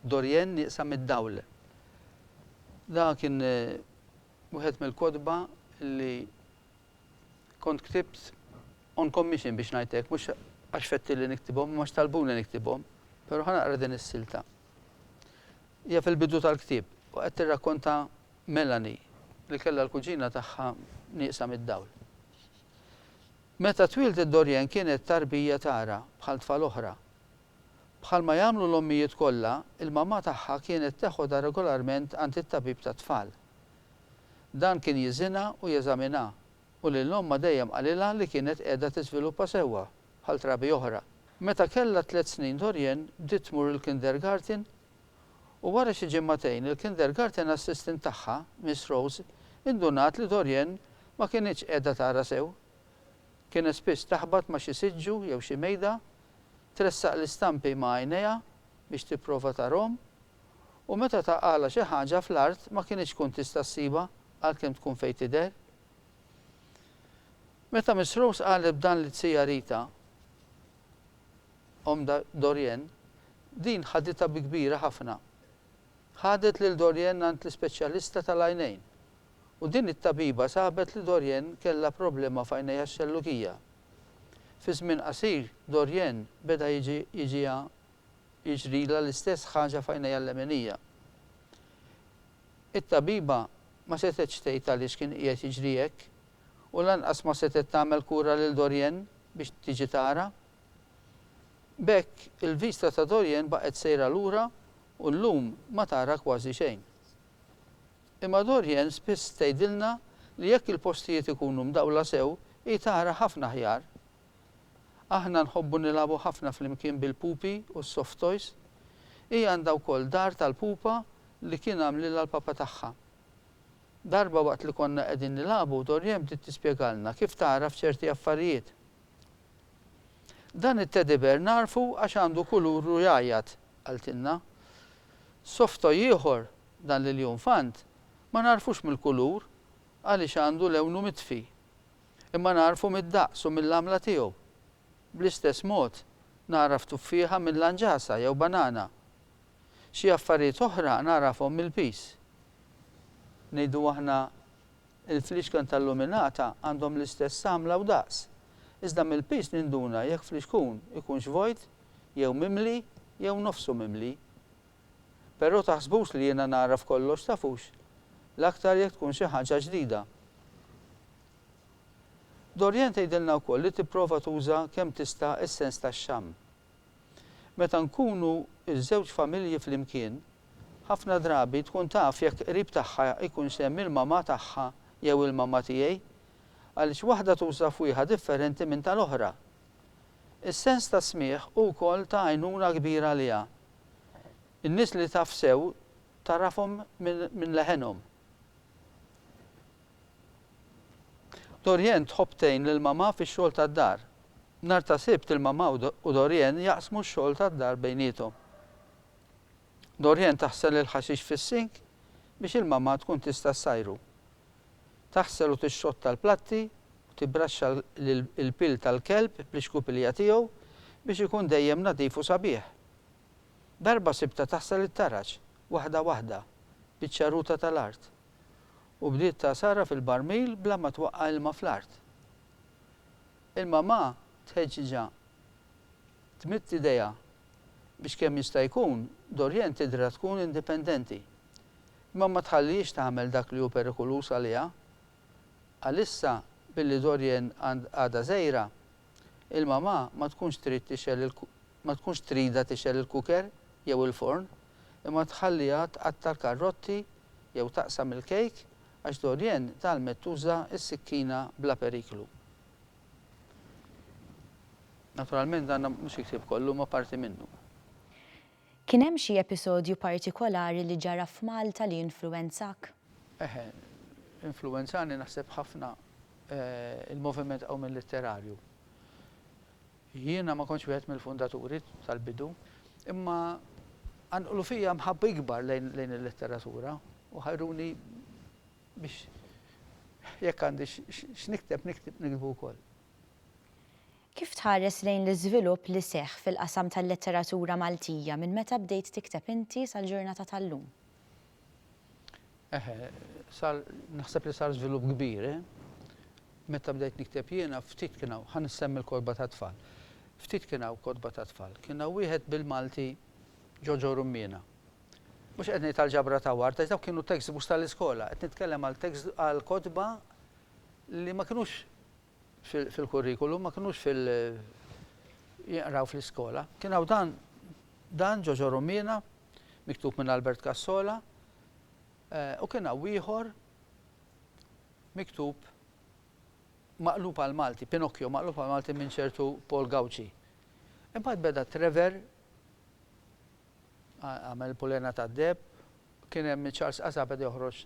Dorianne nieqsa mid-dawl. Dan kien wieħed mill-kotba li kont ktibt on commission biex ngħid hekk, mhux għax fettilli niktibhom imma għax talbuni niktibhom. Però ħa naqra din is-silta. Hija fil-bidu tal-ktieb u qed tirrakkonta Melanie li kellha l-kuġina tagħha nieqsa mid-dawl. Meta twieldet Dorian kienet tarbija tara bħal tfal oħra. Bħalma jagħmlu l-ommijiet kollha, il-mamà tagħha kienet teħodha regolarment għand it-tabib tat-tfal. Dan kien jiżinha u jeżaminha, u lil ommha dejjem qalilha li kienet qiegħda tiżviluppa sewwa, bħal trabi oħra. Meta kellha tliet snin Dorian bdiet tmur il-kindergarten u wara xi ġimagħtejn il-kindergarten assistant tagħha, Miss Rose, indunat li Dorianne ma kinitx qiegħda tara sew. Kienet spiss taħbat ma' xi siġġu jew xi mejda, tressaq l-istampi ma' għajnejha biex tipprova tarhom, u meta taqgħalha xi ħaġa fl-art ma kinitx tkun tista' ssibha għalkemm tkun fejn tidher. Meta Miss Rose qalet b'dan lit-Sija Rita, Omm Dorian, din ħaditha bi kbira ħafna. Ħadet lil Dorian għand l-ispeċjalista tal-għajnejn, u din it-tabiba sabet li Dorian kellha problema f'għajnejha x-xellugija. Fi żmien qasir, Dorian beda jiġi jiġiha jiġrilha l-istess ħaġa f'għajnejha l-lemenija. It-tabiba ma setgħetx tgħid għaliex kien qiegħed jiġri hekk, u lanqas ma setgħet tagħmel kura lil Dorian biex tiġi tara. B'hekk, il-Vista ta' Dorian baqgħet sejra lura u llum ma tara kważi xejn. Imma Dorian spiss tgħidilna li jekk il-postijiet ikunu mdawla sew, hi tara ħafna aħjar. Aħna nħobbu nilagħbu ħafna flimkien bil-pupi u s-soft toys. Hi għandha wkoll dar tal-pupa li kien għamlilha l-papa tagħha. Darba waqt li konna qegħdin nilagħbu, Dorian bdiet tispjegalna kif tagħraf ċerti affarijiet. Dan it-teddy bear nagħrfu għax għandu kulur u jgħajjat, qaltilna. Soft toy ieħor, dan l-iljunfant, ma nagħrfux mill-kulur għaliex għandu lewnu mitfi. Imma nagħrfu mid-daqs u mill-għamla tiegħu. Bl-istess mod, nagħraf tuffieħa minn lanġasa jew banana. Xi affarijiet oħra nagħrafhom mill-piż. Ngħidu aħna Il-fliexken tal-luminata għandhom l-istess għamla u daqs, iżda mill-piż ninduna jekk fliexkun ikunx vojt jew mimli jew nofsu mimli. Però taħsbux li jiena nagħraf kollox tafux, l-aktar jekk tkun xi ħaġa ġdida. Dorianne tgħidilna wkoll li tipprova tuża kemm tista' s-sens tax-xamm. Meta nkunu ż-żewġ familji flimkien, ħafna drabi tkun taf jekk qrib tagħha jkunx hemm il-mamà tagħha jew il-mamà tiegħi, għaliex waħda tuża fwieħa differenti minn tal-oħra. Is-sens tas-smigħ hu wkoll ta' għajnuna kbira għaliha. In-nies li taf sew tagħrafhom minn leħenhom. Dorienne tħobb tgħin lil mamà fix-xogħol tad-dar. Nhar ta' Sibt il-mamà u Dorienne jaqsmu x-xogħol tad-dar bejniethom. Dorienne taħsel il-ħaxix fis-sink biex il-mamà tkun tista' ssajru. Taħsel u tixxotta l-platti u tibbraxxa l-pil tal-kelb bl-ixkupilija tiegħu biex ikun dejjem nadif u sabiħ. Darba sibtha taħsel it-taraġ, waħda waħda, biċ-ċaruta tal-art. u bdiet tagħsarha fil-barmil bla ma twaqqa' ilma fl-art. Il-mamà tħeġġiġha tmidd idejha biex kemm jista' jkun Dorienne tidhirha tkun indipendenti, imma ma tħallihiex tagħmel dak li hu perikoluż għaliha. Għalissa, billi Dorienne għadha żgħira, Il-mamà ma tkunx trid tixgħel il ma tkunx tridha tixgħel il-kuker jew il-forn, imma tħalliha tqatta' l-karrotti jew taqsam il-kejk għax Dorienne tgħallmet tuża s-sikkina bla periklu. Naturalment dan mhux il-ktieb kollu imma parti minnu. Kien hemm xi episodju partikolari li ġara f'Malta li influwenzak? Eħe, influwenzani naħseb ħafna l-moviment qawmien litterarju. Jiena ma kontx wieħed mill-fundaturi tal-bidu, imma qanqlu fija mħabba ikbar lejn il-letteratura u ħajruni biex jekk għandi x'nikteb niktbu wkoll. Kif tħares lejn l-iżvilupp li seħħ fil-qasam tal-letteratura Maltija minn meta bdejt tikteb inti sal-ġurnata tal-lum? Eħe, sar, naħseb li sar żvilupp kbir, eh. Meta bdejt nikteb jiena, ftit kien hawn, ħa nissemmi l-kotba tat-tfal. Ftit kien hawn kotba tat-tfal. Kien hawn wieħed bil-Malti ġo ġo Rummiena. Mhux qed ngħid għall-ġabra ta' ward, għax dawk kienu textbooks tal-iskola, qed nitkellem għal text, għal kotba li ma kinux, fil-kurrikulum, ma kinux fil- jinqraw fl-iskola. Kien hawn dan dan Ġoġo Rumina, miktub minn Albert Cassola, eh, u kien hawn ieħor miktub maqlub għal Malti, Pinocchio maqlub għal Malti minn ċertu Paul Gauci. Imbagħad beda Trevor għamel pulena ta' deb Kien hemm minn Charles Qasa beda joħroġ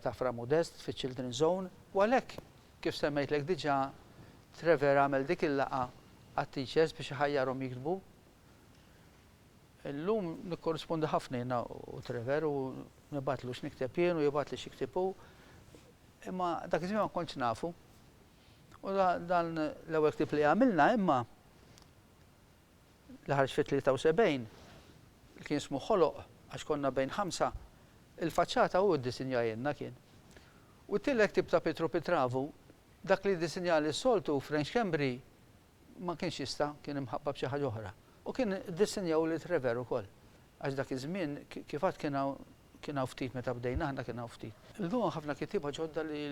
ta' Fra Modest fiċ-Children's Zone. U għalhekk, kif semmejtlek diġà, Trevor għamel dik il-laqgħa għat-teachers biex iħajjarhom jiktbu. Illum nikkorrispondu ħafna jiena u Trevor u nibgħatlu x'nikteb jien u jibgħatli x'jiktib hu. Imma dak iż-żmien ma kontx nafu. U dan l-ewwel ktieb li għamilna imma li ħarġ fit-73, li kien ismu Ħoloq għax konna bejn ħamsa, il-faċċata hu ddisinjajilna kien. U t-tielet ktieb ta' Pietru Pitravu, dak li ddisinjali s-soltu, French Schembri, ma kienx jista', kien imħabba b'xi ħaġa oħra. U kien iddissinjaw lil Trevere ukoll, għax dak iż-żmien, kif għadt kien hawn, kien hawn ftit meta bdejna aħna kien hawn ftit. Illum hawn ħafna kittieba ġodda li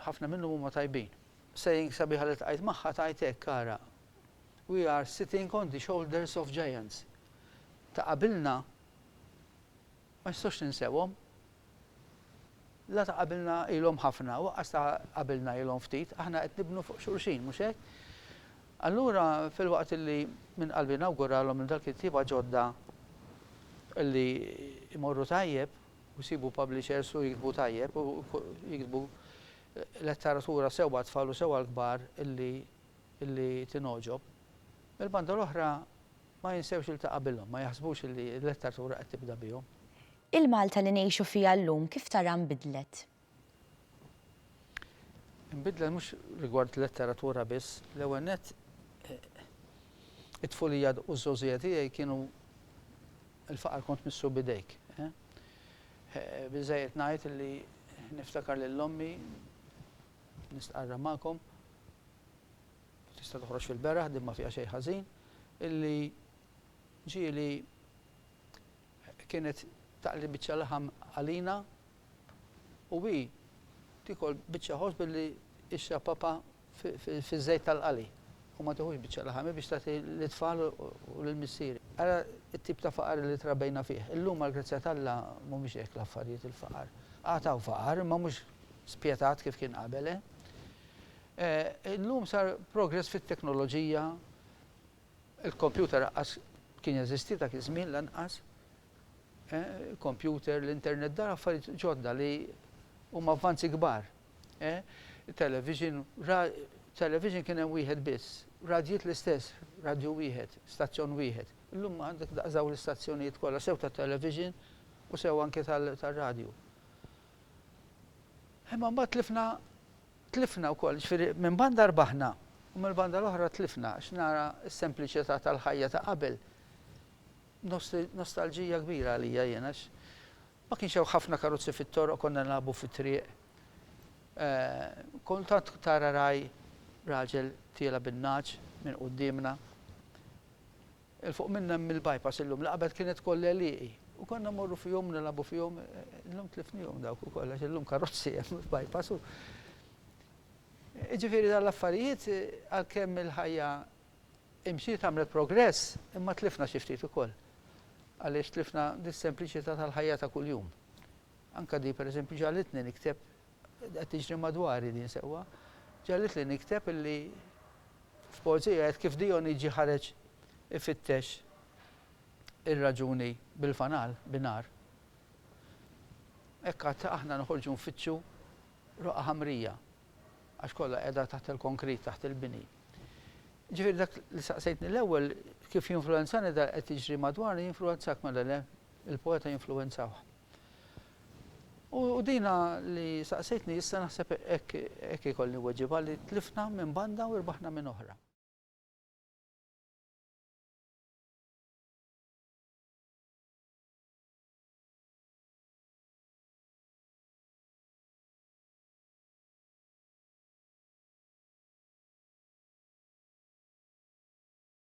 ħafna minnhom huma tajbin. Saying sabiħa li ltqajt magħha tgħid hekk, ara, We are sitting on the shoulders of giants. Ta' qabilna ma nistgħux ninsewhom. La ta' qabilna ilhom ħafna, u aqqas ta' qabilna ilhom ftit, aħna qed nibnu fuq xulxin, mhux hekk? Allura filwaqt illi minn qalbi nawguralhom lil dawk il-ktieba ġodda illi jmorru tajjeb u jsibu publishers u jiktbu tajjeb u jiktbu letteratura sewwa għat-tfal u sewwa għall-kbar illi li tingħoġob, mill-banda l-oħra ma jinsewx il ta' qabilhom, ma jaħsbux li l-letteratura qed tibda bihom. Il-Malta li ngħixu fiha llum kif taraha nbidlet? Inbidlet mhux rigward letteratura biss. L-ewwel nett it-tfulija u ż-żgħożija tiegħi kienu l-faqar kont missu b'idejk. Biżżejjed ngħid li niftakar lil ommi Nistqarra magħkom, u tista' toħroġ fil-beraħ, din ma fiha xejn ħażin, illi ġieli kienet taqli biċċa laħam għalina u hi tiekol biċċa ħobż billi ixrab papha fiż-żejt tal-qali u ma tieħux biċċa laħam, hi biex tagħti lit-tfal u lill-missieri. Ara t-tip ta' faqar li trabejna fih. Illum għall-grazzja t'Alla mhumiex hekk l-affarijiet il-faqar. Għad hawn faqar, imma mhux spjetat kif kien qabel, eh. Eh, illum sar progress fit-teknoloġija, il-kompjuter aqqas kien jeżisti dak iż-żmien lanqas, eh, kompjuter, l-internet dar affarijiet ġodda li huma avvanzi kbar. Eh, television, television kien hemm wieħed biss, radjiet l-istess, radju wieħed, stazzjon wieħed. Illum għandek daqżaw l-istazzjonijiet kollha sew ta' television u sew anke tal-radju. Imma mbagħad tlifna tlifna wkoll, jiġifieri minn banda rbaħna u mill-banda l-oħra tlifna għax nara s-sempliċità tal-ħajja ta' qabel. Nostalġija kbira għalija jien għax ma kienx hawn ħafna karozzi fit-toroq konna nilagħbu fit-triq. Kultant tara ragħaj raġel tiela' bin-nagħaġ minn quddiemna. 'l fuq minna hemm il-bypass illum li qabel kienet koll għelieqi u konna mmorru fihom nilagħbu fihom illum tlifnihom dawk ukoll għax illum karozzi hemm f'bypass u Jiġifieri dan l-affarijiet għalkemm il-ħajja imxiet għamlet progress imma tlifna xi ftit ukoll għaliex tlifna dis-sempliċità tal-ħajja ta' kuljum. Anke di pereżempju ġagħlitni nikteb Qed tiġri madwari din sewwa. Ġegħlitli nikteb illi f'poeżija għedt kif Dijoniġi ħareġ ifittex ir-raġuni bil-fanal, bin-nar. Hekk għad aħna noħorġu nfittxu roqgħa ħamrija, għax kollha qiegħda taħt il-konkrit, taħt il-bini. Ġifieri dak li saqsejtni l-ewwel kif jinfluwenzani dak li qed jiġri madwarna jinfluwenzak mela le, il-poeta jinfluwenzawh. U dina li saqsejtni issa naħseb hekk ikolli nweġibha li tlifna minn banda u rbaħna minn oħra.